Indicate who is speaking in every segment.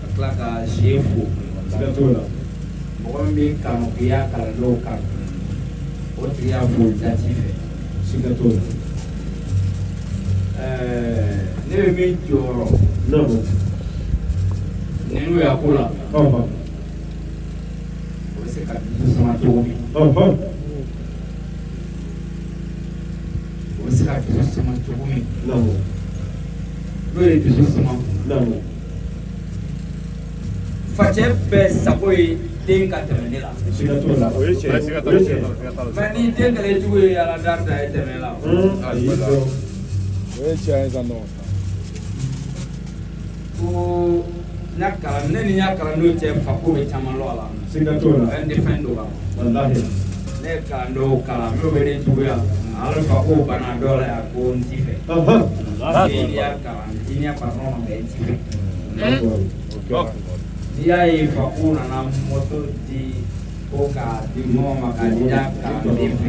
Speaker 1: ka tila ka sie fo siga t'o la mɔgɔ min bɛ kanuya kalandenw kan o tigi y'a fo jati fɛ siga t'o la ne bɛ min jɔrɔ ninnu y'a ko la o bɛ se ka dusu suma cogo min o bɛ se ka dusu suma cogo min n'o ye dusu suma facɛ bɛɛ sago ye den ka tɛmɛ ne la mɛ ni den kɛlɛ jugu ye ala da ye tɛmɛ la ko n'a kalan ne ni y'a kalan n'o cɛ fa ko bɛ caman lɔ a la siga t'o la fɛn tɛ fɛn dɔ la walahi ne ye kalan dɔw kalan n'o bɛ ne juguya ala fa ko bana dɔ la yan ko n ti fɛ n'i y'a kalan i ɲɛ fa nɔnɔ ma i ti fɛ n'i y'a ye fa ko nana mɔto di ko k'a di mɔgɔ ma k'a di y'a kalan den fɛ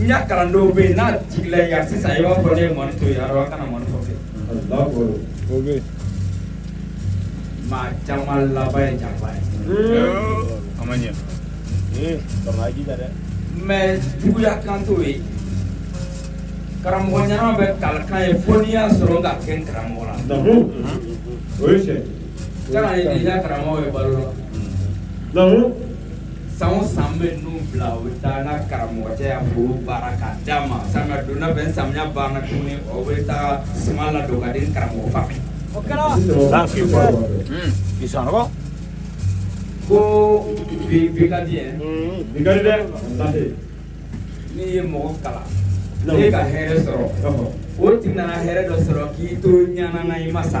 Speaker 1: n ka kalandenw bɛ yen n'a jigila i kan sisan i b'a fɔ ne ye mɔni to yen a dɔn kana mɔni fɔ fɛ o bɛ yen maa caman laban ye janfa ye a ma ɲɛ kama a jija dɛ mɛ juguya kan t'o ye karamɔgɔ ɲɛnama bɛ kalikan ye fo n'i y'a sɔrɔ ka kɛ n karamɔgɔ la Namu. O ye tiɲɛ. kana ye déjà karamɔgɔ ye balo la Namu. san o san bɛ n'u bila u bɛ taa n ka karamɔgɔcɛ y'a foro baara k'a d'a ma samiya donda fɛ samiya banna tuguni o bɛ taa suman ladon k'a di n karamɔgɔ fa ma. o kɛra. ko bi bi ka di yɛ. bi ka di dɛ. n'i ye mɔgɔ kalan. ne ka hɛrɛ sɔrɔ. o tigi nana hɛrɛ dɔ sɔrɔ k'i to ɲanama i ma sa.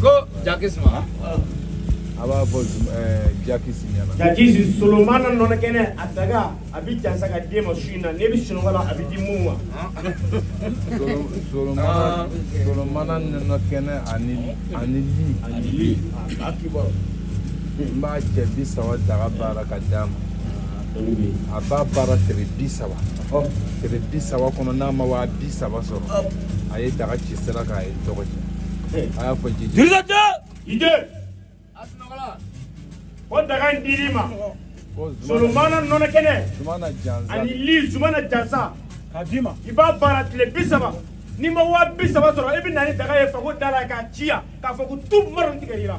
Speaker 1: ko jakis ma a b'a fɔ jakis ɲɛna jakis solomana nɔnɔ kɛnɛ a daga a bɛ jansa k'a d'e ma su in na n'e bɛ sunɔgɔ la a bɛ di mun ma solomana nɔnɔ kɛnɛ ani ani li ani li a kibaru n b'a cɛ bi saba daga baara k'a d'a ma a b'a baara tere bi saba tere bi saba kɔnɔ n'a ma waa bi saba sɔrɔ a ye daga ci sira k'a ye tɔgɔ cɛ a y'a fɔ jiji dirisajɛ jije o daga in dir'i ma solomana nɔnɔ kɛnɛ ani li u mana jansa k'a d'i ma i b'a baara tile bi saba n'i ma waa bi saba sɔrɔ i bɛ na ni daga ye fago da la k'a ci yan k'a fɔ ko tu mara tigɛ i la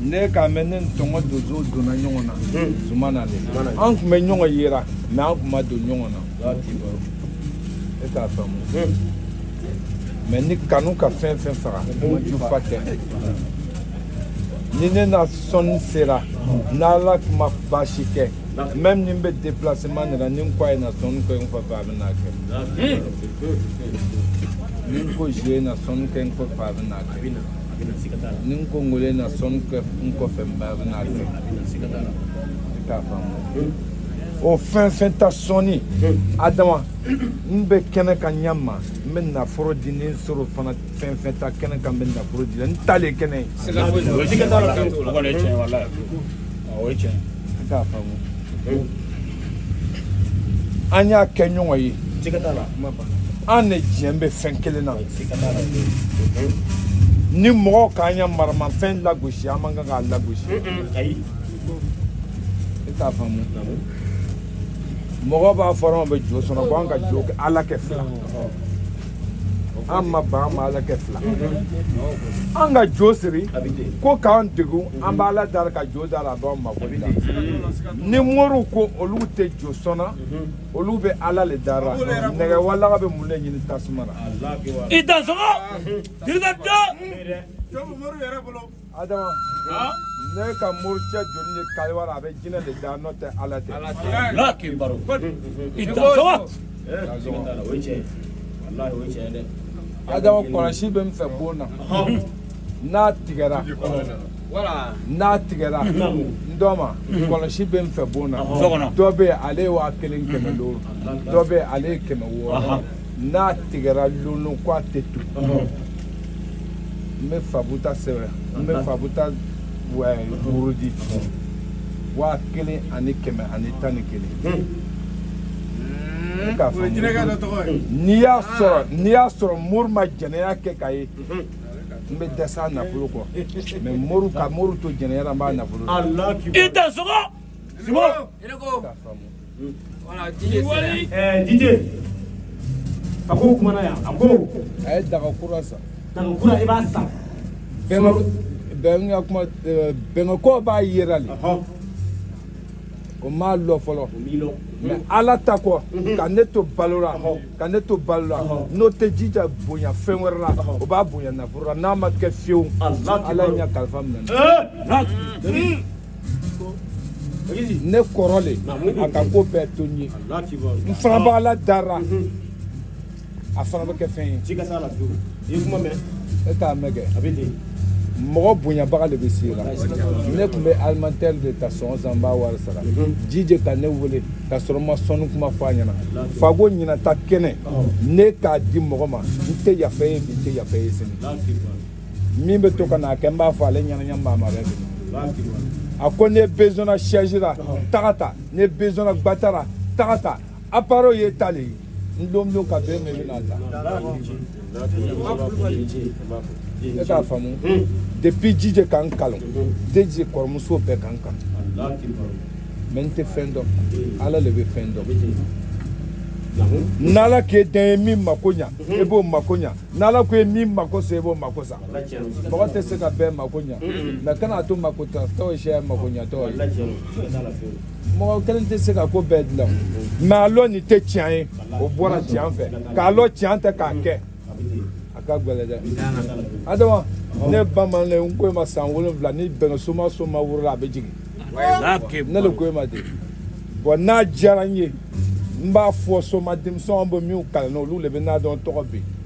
Speaker 1: ne k'a mɛn ne ni tɔngɔ donso donna ɲɔgɔn na zumana le an tun bɛ ɲɔgɔn yera mɛ an tun ma don ɲɔgɔn na e t'a faamu mɛ ni kanu ka fɛn fɛn faga jufa tɛ ni ne na sɔnni sera n'ala ma baasi kɛ même ni n bɛ déplacement de la ni n ko a ye na sɔnni kɛ n kɔfɛ a bɛ n'a kɛ ni n ko zie na sɔnni kɛ n kɔfɛ a bɛ n'a kɛ a bɛ na a bɛ na siga t'a la ni n ko ngolo na sɔnni kɛ n kɔfɛ n ba bɛ na a bɛ na a bɛ na siga t'a la i t'a faamu o fɛn fɛn ta sɔnni adama n bɛ kɛnɛ kan ɲɛ ma n bɛ nafolo di ni n sɔrɔ fana fɛn fɛn ta kɛnɛ kan n bɛ nafolo di la n ta le kɛnɛ ye siga foyi t'a la siga t'a la o kɔni ye tiɲɛ ye walayi o ye tiɲɛ ye i t'a faamu an y'a kɛ ɲɔgɔn ye an de diɲɛ bɛ fɛn kelen na ni mɔgɔw k'an ya maramafɛn lagosi an man kan k'a lagosi e t'a faamu mɔgɔ b'a fɔ anw bɛ jo sɔnna ko an ka jo kɛ ala kɛ fila an ma ban an ma ala kɛ fila an ka jo siri ko k'an degun an b'ala dara ka jo dara a b'an mako ni moriw ko olu tɛ jo sɔnna mhm. olu bɛ ala le dara nɛgɛ walaga bɛ mun le ɲini tasuma la i dansɔgɔ dirida dɔ adama ne ka moricɛ joli ye kaliwa la a bɛ jinɛ le da n'o tɛ ala tɛ ala k'i balo i dansɔgɔ adama kɔlɔsi bɛ n fɛ bon na n'a tigɛra wala n'a tigɛra n dɔ ma kɔlɔsi bɛ n fɛ bon na dɔ bɛ ale ye waa kelen kɛmɛ duuru dɔ bɛ ale ye kɛmɛ wɔɔrɔ n'a tigɛra lon lon ko a tɛ tu n bɛ fabuta sɛbɛn n bɛ fabuta wurudi waa kelen ani kɛmɛ ani tan ni kelen n'i y'a sɔrɔ n'i y'a sɔrɔ mori ma jɛnɛya kɛ k'a ye n bɛ dɛsɛ a nafolo kɔ mɛ mori ka mori to jɛnɛya la n b'a nafolo i dansɔgɔ
Speaker 2: simbo dije
Speaker 3: a ko kumana yan a ko a ye daga
Speaker 1: kura san daga kura i
Speaker 3: b'a san bɛnka
Speaker 1: kuma bɛnkɛko b'a yera le o m'a lɔ fɔlɔ mɛ ala ta kɔ ka ne to balo la ka ne to balo la n'o tɛ jija bonya fɛn wɛrɛ la o b'a bonya nafolo la n'a ma kɛ fiyewu ala ɲa kalifa minɛ ne kɔrɔ le a ka ko bɛɛ to n ye n fana b'ala dara a fana bɛ kɛ fɛn ye i ye kuma mɛn e t'a mɛn kɛ a bɛ ten mɔgɔ bonyabaga de bɛ se i la ne tun bɛ alimantɛri de ta sɔn san n b'a wari sara mhm. jije ka ne wele ka sɔrɔ n ma sɔnni kuma fɔ a ɲɛna fago ɲinata kɛnɛ ne k'a di mɔgɔ ma n tɛ yafa ye bi n tɛ yafa ye sini min bɛ to ka na a kɛ n b'a fɔ ale ɲɛna ɲɛ maa ma bɛ a ko n'e bezɔn na sɛzi ra taga ta n'e bezɔn na gbata ra taga ta appareil ye ta le ye n lon o lon ka bɛn mɛ bɛna ta e k'a faamu depuis jije ka n kalan jije kɔrɔmuso bɛɛ ka n kalan mɛ n tɛ fɛn dɔn ala le bɛ fɛn dɔn n'ala k'e de ye min mako ɲa e b'o mako ɲa n'ala ko ye min mako sa e b'o mako sa mɔgɔ tɛ se ka bɛɛ mako ɲa mɛ kana to mako tatɔ ye sɛ mako ɲatɔ ye mɔgɔ kelen tɛ se ka ko bɛɛ dilan mɛ a lɔn nin tɛ tiɲɛ ye o bɔra tiɲɛ fɛ k'a lɔn tiɲɛ tɛ k'a kɛ a ka gɛlɛn dɛ adama ne bamanan n ko e ma san wolonwula ni bɛnna soma soma woro la a bɛ jigin ne le ko e ma ten bɔn n'a diyara n ye n b'a fɔ soma denmisɛnw bɛ minnu kalan na olu de bɛna a dɔn tɔgɔ bɛ yen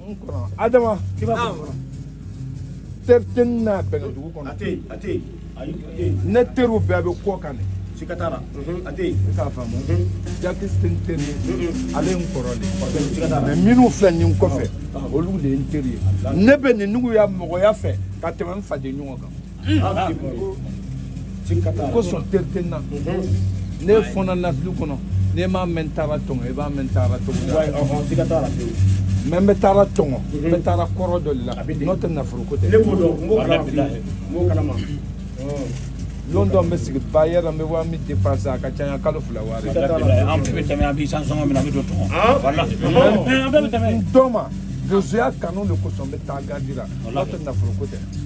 Speaker 1: n kɔnɔ adama i b'a fɔ kɔnɔ teri tɛ n na bɛnkɛ dugu kɔnɔ a tɛ yen a tɛ yen
Speaker 3: ayi a tɛ yen ne
Speaker 1: teriw bɛɛ bɛ kɔ kan de sika t'a la
Speaker 3: a tɛ yen i k'a faamu
Speaker 1: jakisi tɛ n teri ye ale ye n kɔrɔ de mɛ minnu filɛ nin kɔfɛ olu de ye n teri ye ne bɛ ninnugu ya mɔgɔya fɛ ka tɛmɛ n faden ɲɔgɔn kan kosɔn teri tɛ n na ne fɔnna nasili kɔnɔ n'e m'a mɛn taara tɔngɔ i b'a mɛn taara tɔngɔ mɛ n bɛ taara tɔngɔ n bɛ taara kɔrɔ dɔ de la n'o tɛ nafolo ko tɛ lon dɔ n bɛ sigi ba yɛrɛ n bɛ waa min dépense a ka ca yan kalo fila wari an bɛɛ bɛ
Speaker 3: tɛmɛ an b'i san sɔngɔ min na an bɛ don tɔngɔ walahi n dɔ ma
Speaker 1: donsoya kanu de kosɔn n bɛ taa gardi ra n'o tɛ nafolo ko tɛ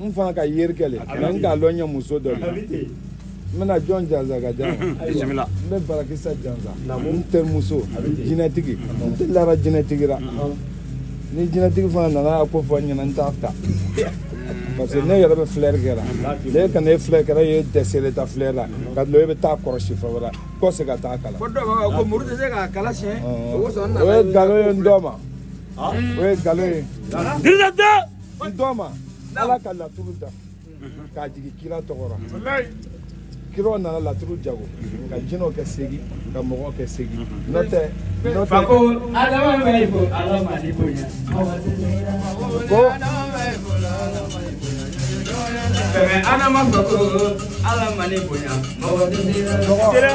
Speaker 3: n fana ka
Speaker 1: yeri kɛ le mɛ n k'a lɔn ɲɛ muso dɔ
Speaker 3: de n bɛna
Speaker 1: jɔn jansa ka jan n
Speaker 3: bɛ
Speaker 1: barakisa jansa n tɛ muso jinɛtigi n tɛ lara jinɛtigi la ni jinɛtigi fana nana a ko fɔ n ɲɛna n t'a ta parce que ne yɛrɛ bɛ filɛri kɛ la ne ka ne filɛ kɛra ye dɛsɛle ta filɛ la ka dɔn e bɛ taa kɔrɔsi fɛ wɛrɛ kɔ se ka taa kalan ko dɔw b'a fɔ ko muru tɛ se
Speaker 2: k'a kala siyɛn o ye
Speaker 1: nkalon ye n dɔ ma o ye nkalon ye
Speaker 3: n dɔ
Speaker 1: ma ala ka laturu da k'a jigin kira tɔgɔ ra kiraw nana laturu jago ka jinɛw kɛ seegin ka mɔgɔw kɛ seegin n'o tɛ n'o tɛ ko
Speaker 4: adama bɛ i ko ala ma ni
Speaker 1: bonya
Speaker 4: ko fɛmɛ adama fɛ ko ala ma ni bonya mɔgɔ tɛ se ka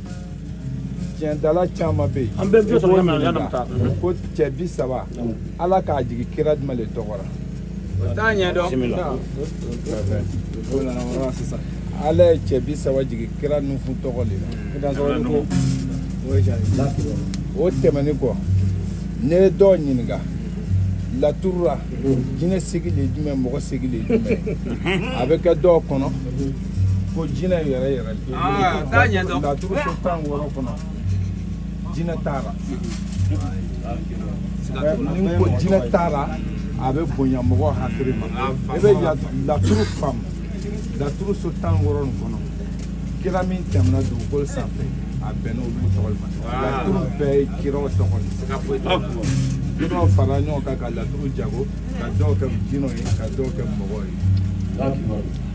Speaker 1: tiɲɛdala caman bɛ yen an bɛɛ bɛ sɔrɔ yɔrɔ yann'an
Speaker 3: bɛ taa ko cɛ
Speaker 1: bi saba ala k'a jigin kira jumɛn de tɔgɔ la o t'a
Speaker 2: ɲɛdɔn
Speaker 1: ala ye cɛ bi saba jigin kira nufun tɔgɔ de la o tɛmɛnen kɔ ne ye dɔw ɲininka laturu ra jinɛ segin de ye jumɛn mɔgɔ segin de ye jumɛn a bɛ kɛ dɔw kɔnɔ ko jinɛ yɛrɛ yɛrɛ
Speaker 2: laturu so tan
Speaker 1: wɔɔrɔ kɔnɔ jinɛ t'a ra n'i ko jinɛ t'a ra a bɛ bonya mɔgɔ hakili ma i bɛ laturu faamu laturu so tan wɔɔrɔ nin kɔnɔ kira min tɛmɛna dugukolo sanfɛ a bɛnna olu tɔgɔ ma laturu bɛɛ ye kiraw tɔgɔ de kiraw farala ɲɔgɔn kan ka laturu jago ka dɔw kɛ jinɛw ye ka dɔw kɛ mɔgɔw ye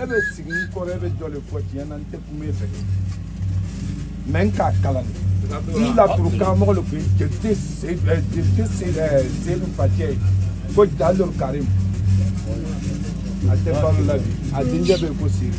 Speaker 1: e bɛ sigi n kɔrɔ e bɛ dɔ de fɔ tiɲɛ na n tɛ kuma e fɛ mais n k'a kalan de n laturu karamɔgɔ de tun ye jeli seyidu facɛ ye ko jalo karim a tɛ balo la bi a denkɛ bɛ yen ko siri